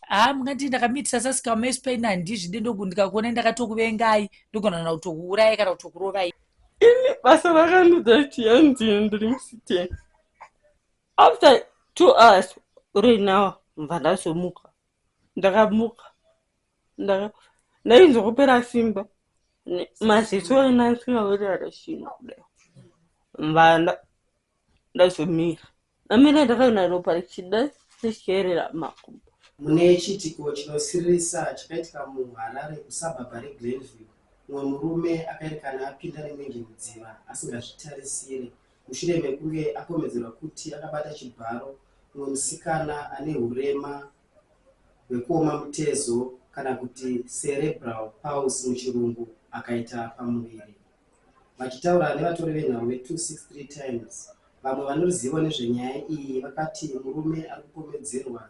haa mungandii ndakamitisa sasika mace pain handizvide ndoku ndikakuonai ndakatokuvengai ndogona kana kutokuurai kana kutokurovai ini basa rakanudza kuti yandini ndiri musiteni after two hours right now mva ndazomuka ndakamuka ndaka ndainzwa kupera simba Ne- maziso ena asingawerera chino kudai mva nda- ndazomira Amene ndakaona ropa richida richierera makumbo. Mune chiitiko chinosiririsa chakaitika muHarare kusabhabha reGlenview, mumwe murume akaerekana apinda nemwenje mudziva asingazvitarisire mushure mekunge akomedzerwa kuti akabata chibharo mumwe musikana ane hurema hwekuoma mutezo kana kuti cerebral palsy muchirungu akaita pamuviri. Vachitaura nevatori venhau ve 263 Times, vamwe vane ruzivo nezvenyaya iyi vakati murume ari kupomedzerwa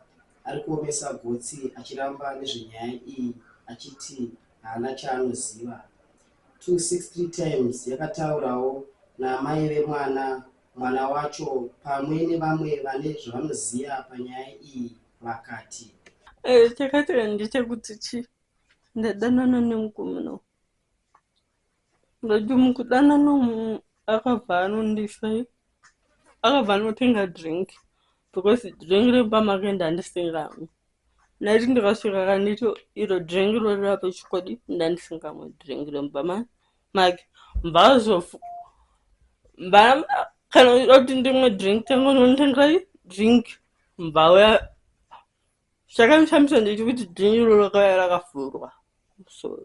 ari kuomesa gotsi achiramba nezvenyaya iyi achiti haana chaanoziva. 263 Times yakataurawo naamai vemwana, mwana wacho pamwe nevamwe vane zvavanoziva panyaya iyi vakati. Chakaitika ndechekuti chii ndadanana nemukomana uyu Ndati mukudanana umu akabva anondisai akabva anotenga drink because drink remba make ndandisingamwe ndati ndikasvika kanditi iro drink rorira pechikwadi ndandisingamwe drink remba make mbazofu mba kana uchida kuti ndimwe drink tango nonditengai drink mbauya zvakamishamisa ndechikuti drink iroro rakauya rakavhurwa musoro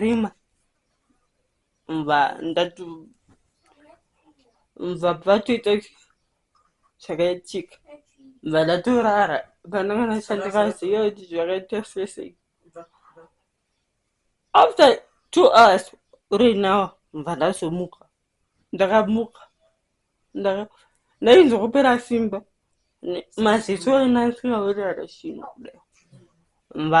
Rima. Mva ndatu mva patoita zvakaitika mva ndatorara pananga ndashandikaziva kuti zvakaita sesei after two hours right now mva ndazomuka ndakamuka ndainzwa kupera simba maziso anansiaorearashino mva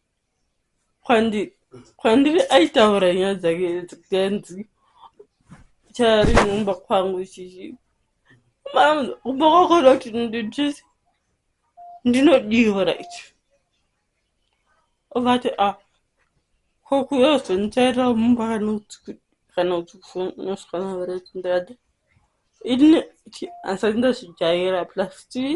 kwandiri aitaura nyaya dzake dzikanzi chari mumba kwangu chichi kumba kwakona kuti ndidrisi ndinodiwa right ovati a ah, kokuyozonitaira mumba kana uchinoswana vere tindada ini asati ndazvijaira plus tii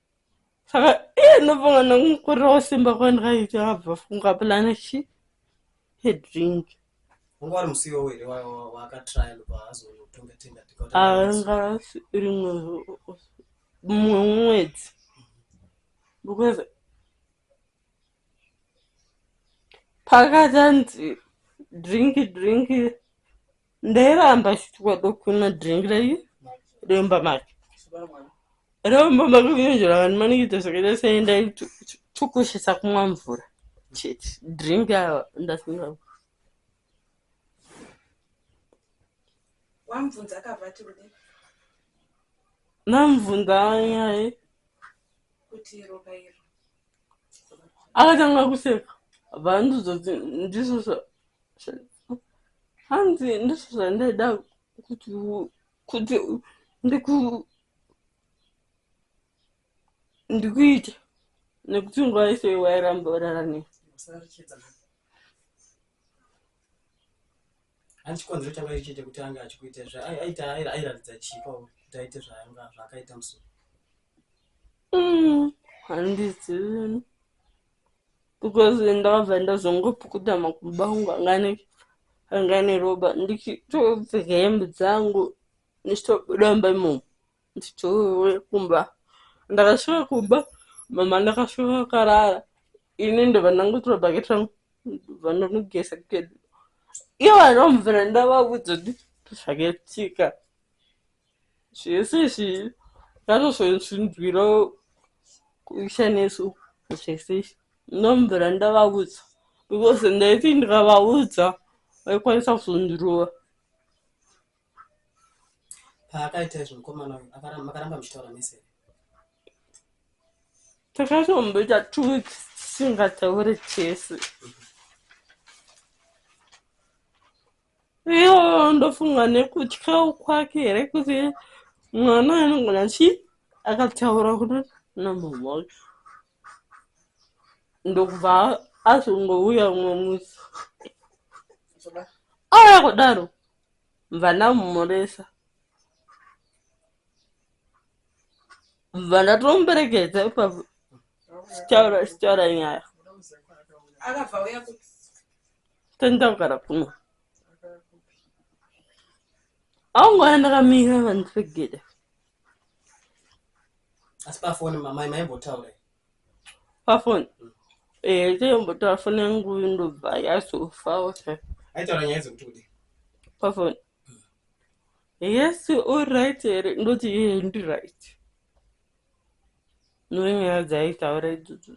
saka iye ndinobonga nokukurirawo simba kwandikaita abva funga pulana chi hedrink wanga wari musiwo here wakatrial paazonotongatenga anga rimwe mumwe mwedzi because pakati anzi drinki drinki ndairamba chitwa dokuna drink rayi remba mari remba mari kunzvira vanhu manikuita zvakaita sei ndaitukushisa kumwa mvura chete drink awa ndasinga wamvunza akabva ati kudii namvunza yaye kuti ropa iro akatanga kuseka bvaandizoti ndizvo hanzi ndizvo zvandaida kuti kuti ndiku ndikuita nekuti nguva yese wairamba urara nei Hanzi chikonzero changa chiri chete kuti anga achikuita izvi ai- aita ai- airatidza chii pauri kuti aite zvaanga zvaakaita musoro Mm, handizivi because ndakabva ndazongopukuta makumba angu anga ane anga ane ropa ndichitopfeka hembe dzangu ndichitobuda mumba imomo ndichouya kumba ndakasvika kumba mama ndakasvika vakarara ini ndobva ndangotora bhaketi rangu ndobva ndanogeza kedu iye vanomvira ndavavudza kuti zvakaitika zvese izvi zvatozonzwinzwira kuisha nesu zvese izvi ndomvira ndavavudza because ndaiti ndikavaudza vaikwanisa kuzondirova Paakaita izvi mukomana uyu akaramba makaramba muchitaura mese here? Takatomboita two weeks tisingataure tese. Iyo ndofunga nekutyawo kwake here kuti mwana anogona chi akataura kuti namama wacho ndokubva azongouya umwe musi. Aya kudaro. Mvana mumuresa. Mvana tomuperekedza ipapo. Sichaura sichaura nyaya. Akabva uya kupi? Tenda kugara kuno. Aungoona ndakamira vanhu pegedhe. Asi pafoni mamai maimbotaura. pafoni eh teyombotaura foni yangu ndobva yazofa ose aitaura nyaya dzekuti kudi pafoni yes oright here ndoti iye ndiright nonyaya dzaitaura idzodzo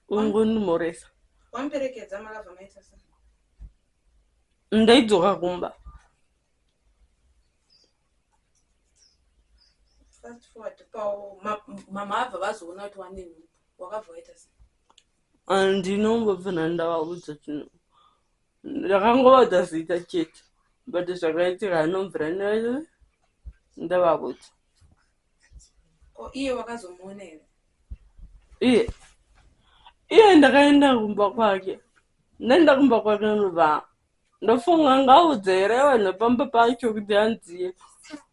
ungondimoresa wamperekedza malava maita sa ndaidzoka kumba fast forward pawo mama abva vazoona kuti wane nhubu wakabva waita sei andinombobvana ndavaudza chinhu ndakangovaudza zita chete but zvakaitika anobvira ndavaudza ko iye wakazomuona here iye iye ndakaenda kumba kwake ndaenda kumba kwake anobva ndofunga ngaudze here vanhu pamba pacho kuti hanzi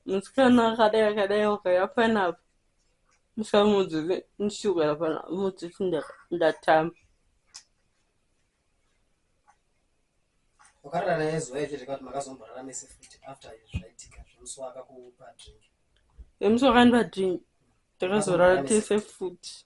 musikana akadai akadai ukaya panapa musamudzi ndisukira pana mudzi ndatamba wakarara naye zuva izvi zvekati makazomborara mese futi after zvaitika zvemusi wakakupa drink emusi wakandipa drink takazorara tese futi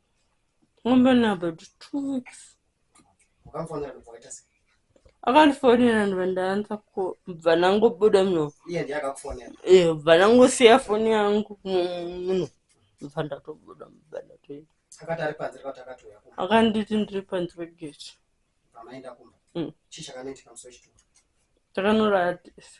Ngombe na baby two weeks. Ukamfonera kubva waita sei? Akandifonera ndibva ndaanza ko bva nangobuda muno. Iye ndiye akakufonera. Eh, bva nangosiya foni yangu muno. Bva ndatobuda bva ndatoenda. Akati ari panze akati akatouya kumba. Akanditi ndiri panze pegate. Pamaenda kumba. Mm. Chii chakanoitika musi wechituko? Takanorara tese.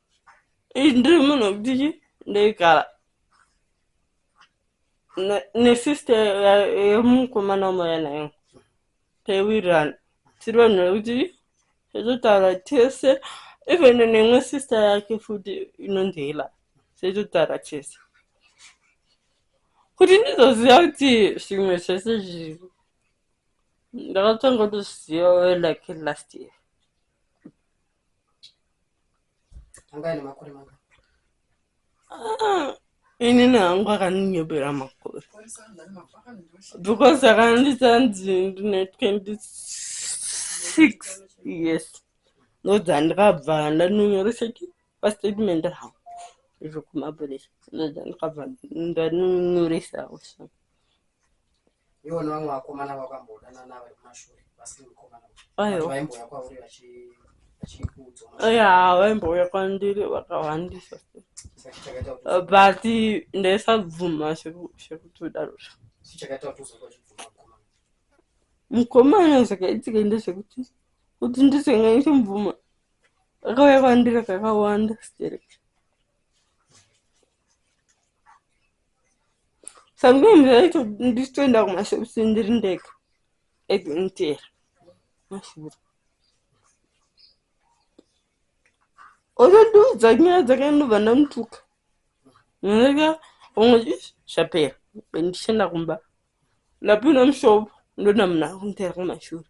ndiri munhu wekuti chi ndoigara nesister yemukomana wamauya nayo taiwirirana tiri vanhu vekuti taitotaura tese even nemwe sister yake futi inonzi hela taitotaura tese kuti ndizoziva kuti zvimwe zvese zviri ndakatanga kutozviziva like last year anga ane makore manga ah, inini hangu akandinyebera makore because akandita nzi ndine 26 yes ndodzandikabva ndanonyoresa ki pastatement rangu zvokumapurisa ndodzandikabva ndanonyoresa usa Iwo nevamwe vakomana vakambodanana vari kumashure vasiri mukomana uyu vaimbouya kwauri vachikuudzaya vaimbouya kwandiri vakawandisa but ndaisabvuma zvekutodaro mukomana zvakaitika ndezvekuti kuti ndisingaite mubvuma akauya kwandiri kakawanda stereki sometimes ndaito ndichitoenda kumashops ndiri ndega ekunitera mashura otondiudza nyaya dzake ndobva ndamutuka ndika vamwe zvapera bendichenda kumba ndapinda mushop ndonda munhu akunditera kumashure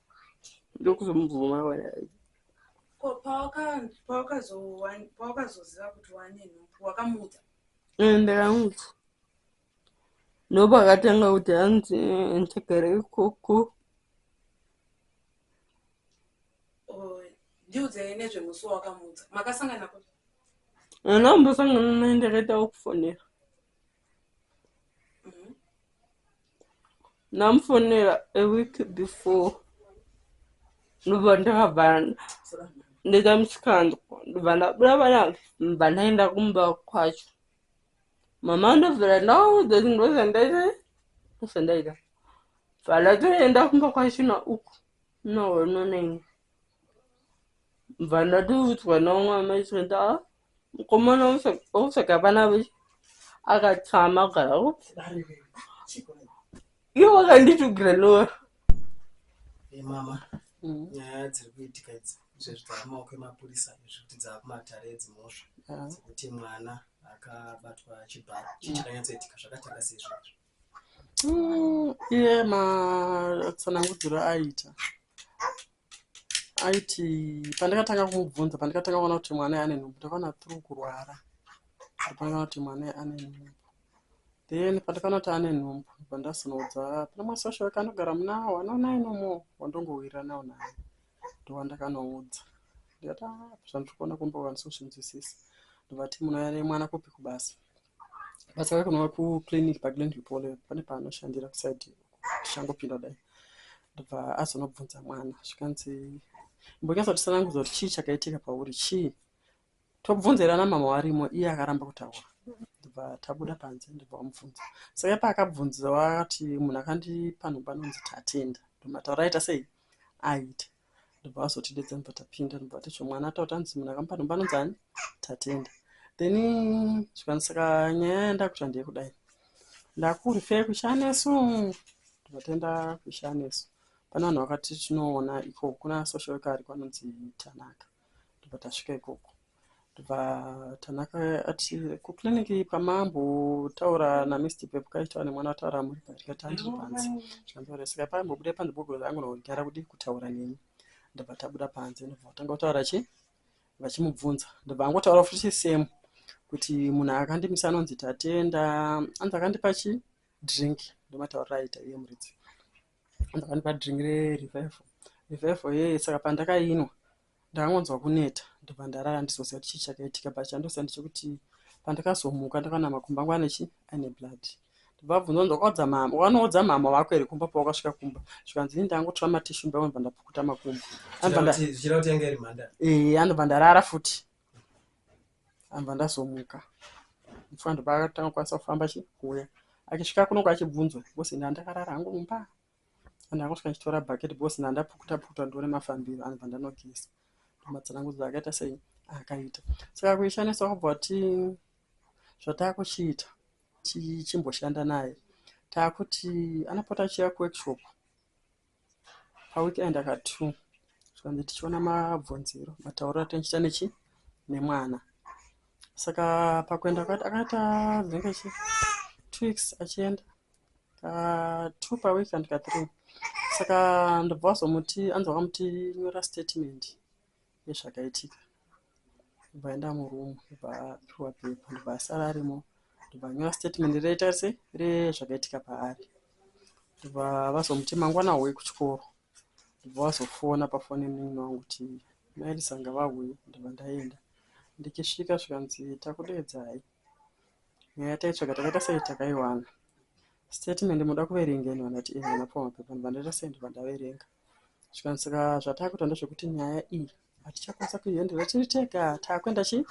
ndokuzomubvuma wena ko pawakazoziva kuti wane nhumbu wakamuudza eh, ndakamuudza ndopa akatanga kuti hanzi eh, ndagara ikoko oh, ndiudzei nezvemusi wawakamuudza makasangana kuti anambosangana naye ndakaita wekufonera ndamufonera a week before ndobva ndakabva ndaita musikanzwa ndobva ndabuda pana bva ndaenda kumba kwacho mama ndobvira ndaudza kuti ndozvandaita ndozvandaita bva ndatoenda kumba kwacho nauku noononeni bva ndatoudzwa naumwe amai zvenda Mukomana wosaka vana veshe akatsamwa kugara iwe wakanditugira nora eh, mama mm. nyaya dziri kuitika idzi izvezvi dzaamaoko emapurisa zvekuti dzaakumatare edzimhosva ah. dzekuti mwana akabatwa chibharo chii mm. chakanyatsoitika zvakatanga sei zvinazvo mm, iye matsanangudziro aita aiti pandakatanga kumubvunza pandakatanga kuona kuti mwana ane nhumbu ndakaona tru kurwara ndakaona kuti mwana ane nhumbu then pandakaona kuti ane nhumbu pandazonoudza pana masosha wake anogara muna wanoona inomo wandongowirira nawo naye ndowandakanoudza ndikati ah, zvandiri kuona kumba vanisoshinzwisisa ndovati munayane mwana kupi kubasa basa rake kunova kuclinic paglen repole pane paanoshandira kusaidi tichangopinda dai ndobva azonobvunza mwana zvikanzi imbonyatsa tisanangudza kuti chii chakaitika pauri chii tobvunza irana mama warimo iye akaramba kutaura ndobva tabuda panze ndobva wamubvunza saka paakabvunza wakati munhu akandipa nhomba anonzi tatenda ndomataura aita sei aita ndobva azotidedza ndobva tapinda ndobva atocho mwana ataura kuti hanzi munhu akamupa nhomba anonzi ani tatenda then zvikanzi saka nyaya yandakuita ndeyekudai ndakurfe kushanesu ndobva taenda kushanesu pane vanhu vakati tinoona ikoko kuna social worker ariko anonzi tanaka ndobva tasvika ikoko ndobva Tanaka ati kuclinic pamambotaura naMr Pepu kaitaura nemwana wataura muri ndikati handiri panze zvikanzi saka paimbobuda panze because angonogara kudi kutaura neni ndobva tabuda panze ndobva vatanga kutaura chi vachimubvunza ndobva angotaura futi same kuti munhu akandimisa anonzi tatenda anzi akandipa chi drink ndomataurira aita iye muridzi ndakanipa drink rerevival revival yeye saka pandakainwa ndakangonzwa kuneta ndobva ndarara ndizoziva kuti chii chakaitika but chandoziva ndechekuti pandakazomuka ndakaona makumbo angu ane chii aine blood ndobvabvunza kunzi wakaudza mama wakanoudza mama vako here kumba pawakasvika kumba zvikanzi ini ndangotora matishu ndakabva ndapukuta makumbo anobva ndarara futi Ndakabva ndazomuka muface ndokwaakatanga kukwanisa kufamba achikuuya achisvika kunoku achibvunzwa because ini handakarara hangu mumba ndanga kusvika ndichitora bucket because ndandapukuta pukuta ndione mafambiro anobva ndanogeza matsanangudzo akaita sei akaita saka kuishandisa wakabva wati zvataakuchiita tichimboshanda naye taakuti anopota achiuya kuworkshop paweekend aka two zvikanzi tichiona mabvunziro matauriro atinenge tichiita nechi nemwana saka pakuenda kwati akaita dzinenge chi two weeks achienda ka two paweek and ka three saka ndobva wazomuti anzi wakamuti nyora statement nezvakaitika ndobva aenda muroom ndobva apiwa pepa ndobva asara arimo ndobva anyora statement reita se rezvakaitika paari ndobva vazomuti mangwana hoi kuchikoro ndobva vazofona pafoni yemunin'ina wangu kuti maelisa ngavauye ndobva ndaenda ndichisvika zvikanzi takudeedzai Nyaya taitsvaga takaita sei takaiwana. Statement munoda kuverenga ini vandati ini vana pfuma mapepa ndobva ndaita sei ndobva ndaverenga zvikanzi saka zvatakuita ndezvekuti nyaya iyi hatichakwanisa kuihendera tiri tega takuenda chii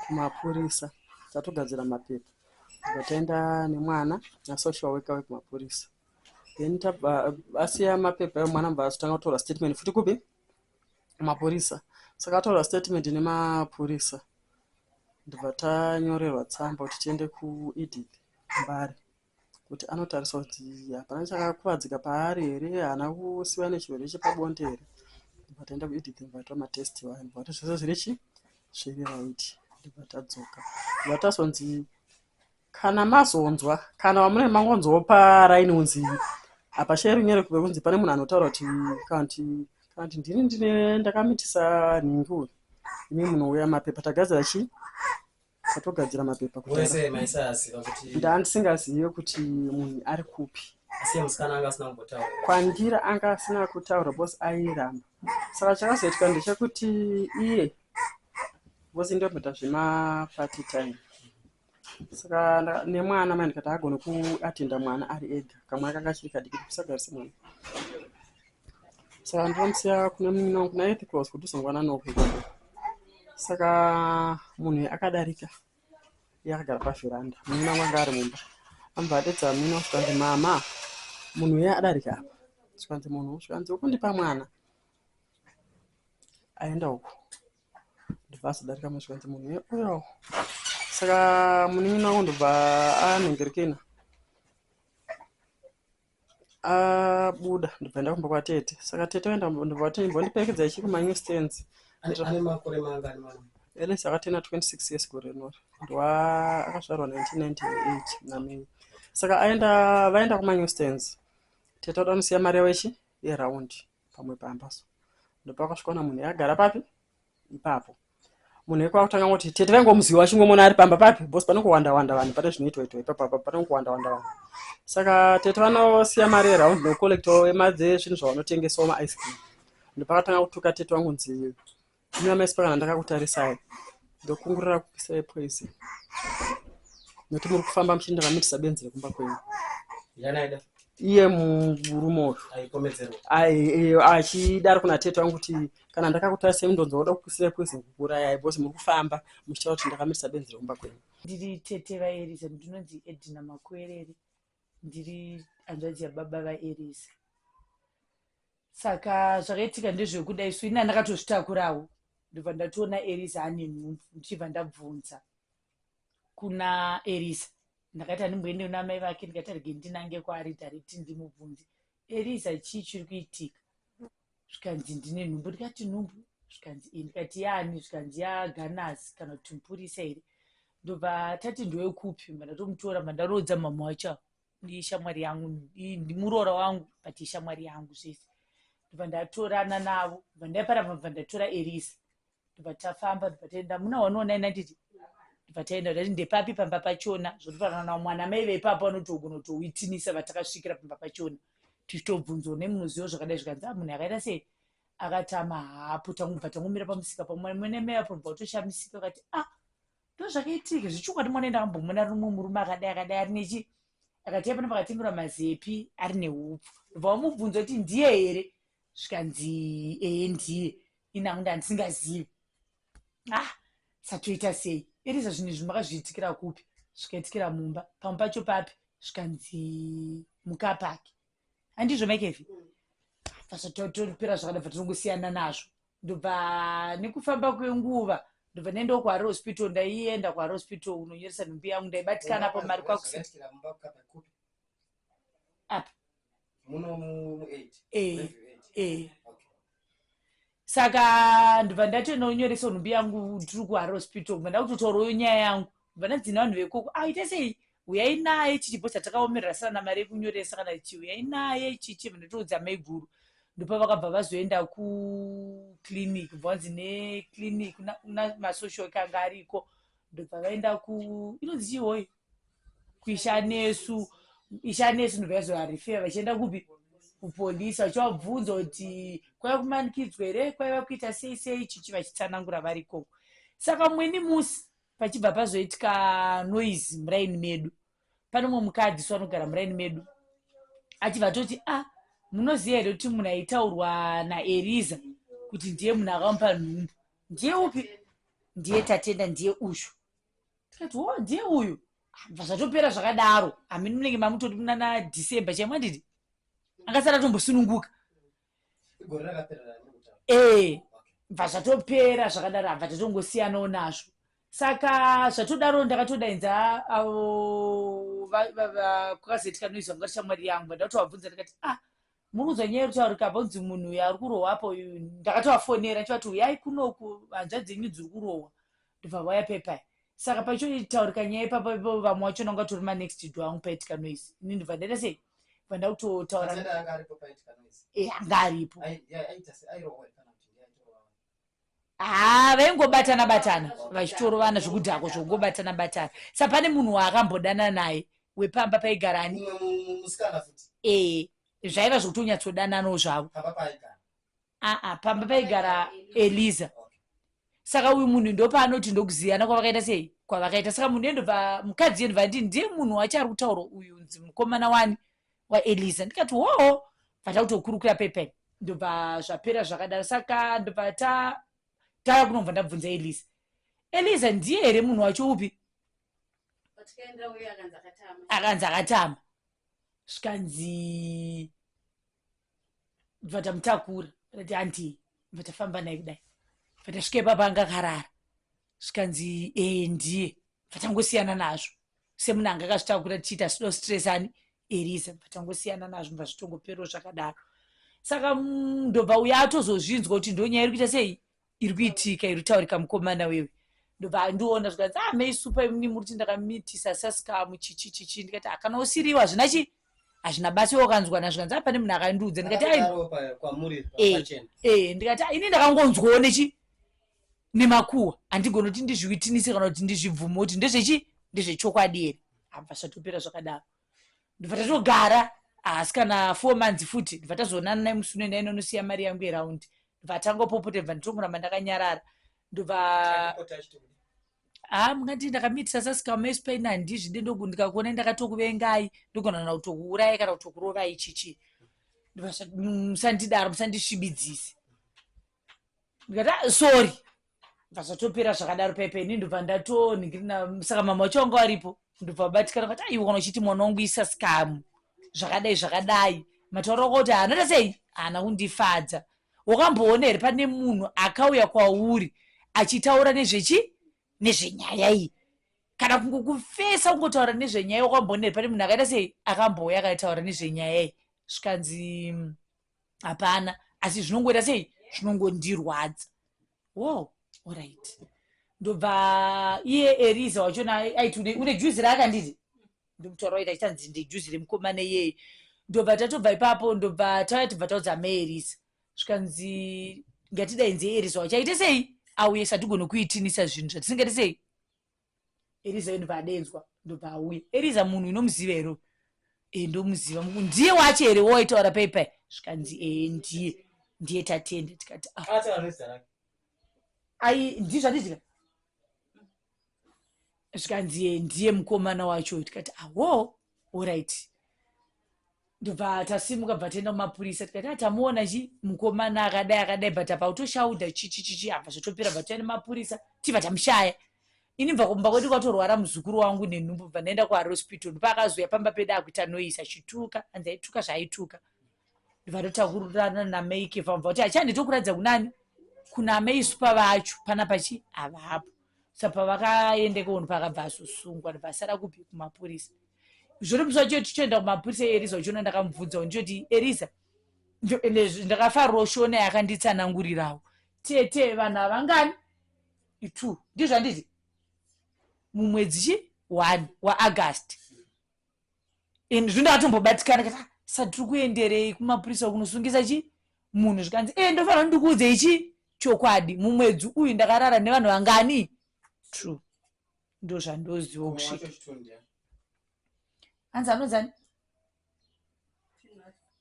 kumapurisa tatogadzira mapepa ndobva taenda nemwana nasocial worker wekumapurisa then tabva asiya mapepa emwana mubva azotanga kutora statement futi kupi mapurisa saka ataura statement nemapurisa ndibva tanyorerwa tsamba kuti tiende kuedith mbare kuti anotarisa kuti hapana chakakuvadzika paari here haana kusiva nechirwere chepabonde here ndibva taenda kuedith mbare twa matest vanhu vati zvese zviri chi zviri right ndibva tadzoka ndibva tazonzi Kana mazonzwa kana wamune mangonzwawo paraini unzi apa share nyere kuve kunzi pane munhu anotaura kuti kanti kanti ndini ndine ndakamitisa nhingi uyu imi munouya mapepa tagadzira chii tatogadzira mapepa kudaandisingazive kuti munhu ari kupi kwandira anga asina kutaura bos airamba saka chakazoitika ndechekuti iye vosi ndombota zvemaparty time saka nemwana mai ndikati agone kuatenda mwana ari ega kamwana kanga kachiri kadiki tikusagarise mwana saka ndinomusiya kune munyina wangu kuna ethiclos kuti uzongwana noku saka munhu akadarika yakagara pavheranda munyina wangu anga ari mumba ambva adedza munyina wangu zvikanzi mama munhu uye adarika apa zvikanzi munhu zvikanzi wokundipa mwana aenda uku ndobva azodarika mushe kwanzi munhu uya uya saka munin'ina wangu ndobva anhengerekena abuda ndobva enda kumba kwatete saka tete vaenda ndobva vati mbondiperekedza ichi kumanew stands ane makore mangani mwana elesi akatena 26 years gore rinori ndwa akazvarwa 1998 namei saka aenda vaenda kumanew stands tete vada kunosiya mari yavo ichi yeraundi pamwe pamba so ndopakasvikwa na munhu yakagara papi ipapo munhu wekwa kutanga ngoti tete vaingomuziva vachingomona ari pamba papi bos pane kuwanda wanda vanhu pane zvinoitwa itwa ipapo apa pane kuwanda wanda vanhu saka tete vanosiya mari eround nocollecto emadzezvinhu zvavanotengesawo maicecream ndopakatanga kutuka tete wangu nzi Mira maispa kana ndakakutarisai ndokungurira kupisai poison nokuti muri kufamba muchienda vamitisa benzi rekumba kwenyu iye murume uyu achidaro kuna tete vangu kuti kana ndakakutarisai mundonzi wakuda kupisai poison kukurayai bcause muri kufamba muchitaura kuti ndakamitisa benzi rekumba kwenyu ndiri tete vaeriza ndinonzi edina makuereri ndiri hanzvadzi yababa vaerisa saka zvakaitika ndezvekuda isu ini andakatozvitakurawo ndobva ndatoona erisa ane nhumbu ndichibva ndabvunza kuna erisa ndakati andimboende kuna mai vake ndikati arege ndinange kwaari direct ndimubvunze erisa chii chiri kuitika zvikanzi ndine nhumbu ndikati nhumbu zvikanzi iyi ndikati yaani zvikanzi yaganazi kana kuti mupurisa here ndobva tati ndowekupi mandatomutora mandaroodza mama wacho ishamwari yangu ndimuroora wangu but ishamwari yangu zvese ndobva ndatorana navo bva ndaipara bva ndatora erisa ndobva tafamba ndobva taenda muna one one nine handiti ndobva taenda ndati ndepapi pamba pachona zvotofanana na mwana mai veipapo vanotogona kutowitinisa vatakasvikira pamba pachona tichitobvunzwa nemunozivo zvakadai zvikanzi a ah, munhu akaita sei akatama hapo tangubva tangomira pamusika pamwene mai apo ndobva kutoshamisika akati a ah, ndozvakaitika zvechokwadi mwana enda ambomona rumwe murume akadai akadai ari nechi akati apana pakatengerwa mazepi ari neupfu ndobva wamubvunza kuti ndiye here zvikanzi ee ndiye ini hangu ndandisingazivi ah satoita sei eriza zvinhu izvi makazviitikira kupi zvikaitikira mumba pamwe pacho papi zvikanzi mukapaki handizvo makevi vasatotoripera zvakada bva tinongosiyana nazvo ndobva nekufamba kwenguva ndobva ndaendawo kuhare hospital ndaienda kuhare hospital unonyoresa nhumbi yangu ndaibatikana pamari kwakusi apa muno mu 8 eh eh saka ndibva ndatononyoresa nhumbi yangu tiri kuhara hospital ndibva ndakutotaurawo nyaya yangu ndibva ndadzina vanhu vekoko aita ah, sei uyai naye chichipo chatakaomerera sana na mari yekunyoresa kana chi uyai naye chichi ndatoudza maiguru ndopa vakabva vazoenda kuclinic bva vanzi neclinic namasocial ekanga ariko ndobva vaenda ku inonzi chihoyi kuishanesu ishanesu ndobva yazovarefeya vachienda kupi kupolisi vachivabvunza kuti kwaiva kumanikidzwa here kwaiva kuita sei sei chichi vachitsanangura vari ikoko saka mweni musi pachibva pazoitika noise muraini medu pane umwe mukadzi so anogara muraini medu achibva atoti a ah, munoziva here kuti munhu aitaurwa naeriza kuti ndiye munhu akamupa nhumbu ndiye upi ndiye tatenda ndiye ushu tikati wo ndiye uyu bva zvatopera zvakadaro hamini munenge mamutoti muna na december chaimwa ndidi akasara tombosununguka gore rakapera raanekutaura ee bva zvatopera zvakadaro abva tatongosiyanawo nazvo saka zvatodaro ndakatodainza avo va- va- va- kwakazoitika noizwa ngati shamwari yangu ndakatowabvunza ndikati ah muri kunzwa nyaya iri kutaurika apa kunzi munhu uyu ari kurohwa apa uyu ndakatovafonera ndichivati uyai kunoku hanzvadzi yenyu dziri kurohwa ndobva vauya pepai saka paicho itaurika nyaya ipapa ipo vamwe wacho nanga tori manext do angu paitika noise ini ndobva ndaita sei bva ndakutotaura eh, anga aripo haa ah, vaingobatana batana vachitorovana zvekudhako zvokungobatana batana sa pane munhu waakambodanana naye wepamba paigara ani ee eh, zvaiva zvekutonyatsodananawo zvavo aa ah, pamba paigara eliza saka uyu munhu ndopaanoti ndokuziyana kwavakaita sei kwavakaita saka munhu endobva mukadzi endobva ndii ndiye munhu wacho ari kutaura uyu mukomana wani waeliza ndikati hoo bvata kutokurukura pepen ndobva zvapera zvakadaro saka ndobva ta tava kunobva ndabvunza eliza eliza ndiye here munhu wacho upi akanzi akatama zvikanzi ndobva tamutakura ati hanti ndobva tafamba naye kudai ndobva tasvika ipapa anga akarara zvikanzi ee ndiye vatangosiyana nazvo semunhu anga akazvitakura tichiita asido stress ani eriza vatangosiyana nazvo mva zvitongoperwo zvakadaro saka mm, ndobva uya atozozvinzwa kuti ndonyaya iri kuita sei iri kuitika iri kutaurika mukomana wewe ndobva andiona zvikanzi ah mei supa imni muri kuti ndakamitisa sasikamu chichi chichi ndikati akana ah, usiriwa hazvina chi hazvina basi iwe ukanzwana zvikanzi ah pane munhu akandiudza ndikati eh, eh, ndikati ah, ini ndakangonzwawo nechi nemakuhwa handigoni kuti ndizviwitinise kana kuti ndizvibvume kuti ndezvechi ndezvechokwadi here abva zvatopera zvakadaro ndibva tatogara haasi kana four months futi ndibva tazoonana naye musi unoenda inonosiya mari yangu yeraundi ndibva atangopopota ibva nditongoramba ndakanyarara ndobva haa ah, mungati ndakamitisa sasikama espain handizvi de ndoku ndikakuona ndakatokuvengai ndogonana kutokuuraya kana kutokurovai chichi musandidaro musandisvibidzisi ndikati "Ah, sorry bva zvatopera zvakadaro paipai ini ndobva ndatonhingirina saka mama wacho wanga waripo ndobva vabatikana vati aiwana uchiti mwana wangu isa sikamu zvakadai zvakadai mataura wako kuti haana tasei haana kundifadza wakamboona here pane munhu akauya kwauri achitaura nezvechi nezvenyaya iyi kana kungo kufesa kungotaura nezvenyaya wakamboona here pane munhu akaita sei akambouya akaitaura nezvenyaya iyi zvikanzi hapana asi zvinongoita sei zvinongondirwadza wow orit ndobva iye eriza wachona aiti une juzi raakanditi ndomutora waita chitanzi ndejuzi remukomana iyeye ndobva tatobva ipapo ndobva tauya tibva taudza amai eriza zvikanzi ngatidainze eriza wachaite sei auye satigonokuitinisa zvinhu zvatisingati sei eriza yondobva adedzwa ndobva auya eriza munhu inomuziva here e ndomuziva muku ndiye wacho here woitaura pai pai zvikanzi e ndiye ndiye tatende tikati ah. ai ndii zvanditika zvikanzi e ndiye mukomana wacho tikati awo orit ndobva tasimuka bva taenda kumapurisa tikati atamuona ah, chi mukomana akadai akadai but apa utoshauda chichichichi apa zvotopera bva taenda mapurisa tibva tamushaya ini bva kumba kwati kwatorwara muzukuru wangu nenhumbu bva ndaenda kuarospital ndopakazoya pamba pedu akuita noise achituka anzi aituka zvaaituka ndobva totakurirana namaike vamva kuti achanditokuratidza kunani kuna amai supa vacho pana pachi havapo sa pavakaende kounhu pakabva azosungwa ndibva asara kupi kumapurisa zvoripisa cho tichoenda kumapurisa eriza uchiona ndakamubvunzawo ndichoti eriza ndakafarwa uchiona yakanditsanangurirawo tete vanhu havangani two ndizvanditi mumwedzi chi one waaugust and zvinda atombobatikana kati satiri kuenderei kumapurisa kunosungisa chi munhu zvikanzi e ndofanira ndikuudze ichi chokwadi mumwedzi uyu ndakarara nevanhu vangani true ndozvandoziwa kusvika hanzi anonzani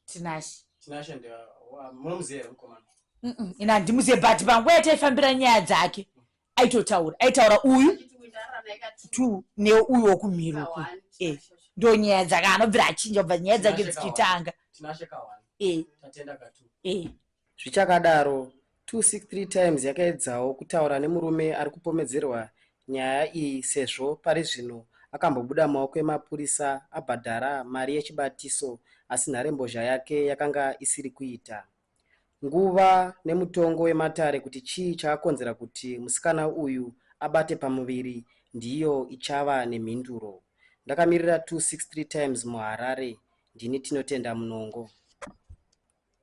tinashe ina handimuzive but panguva yataifambira nyaya dzake aitotaura aitaura uyu two neuyu wokumhiri uku eh, ndo nyaya dzake anobvira achinja kubva nyaya dzake dzichitanga eh. eh. zvichakadaro 263 times yakaedzawo kutaura nemurume ari kupomedzerwa nyaya iyi sezvo pari zvino akambobuda maoko emapurisa abhadhara mari yechibatiso asi nharembozha yake yakanga isiri kuita nguva nemutongo wematare kuti chii chakakonzera kuti musikana uyu abate pamuviri ndiyo ichava nemhinduro. Ndakamirira 263 Times muHarare, ndini Tinotenda Munongo.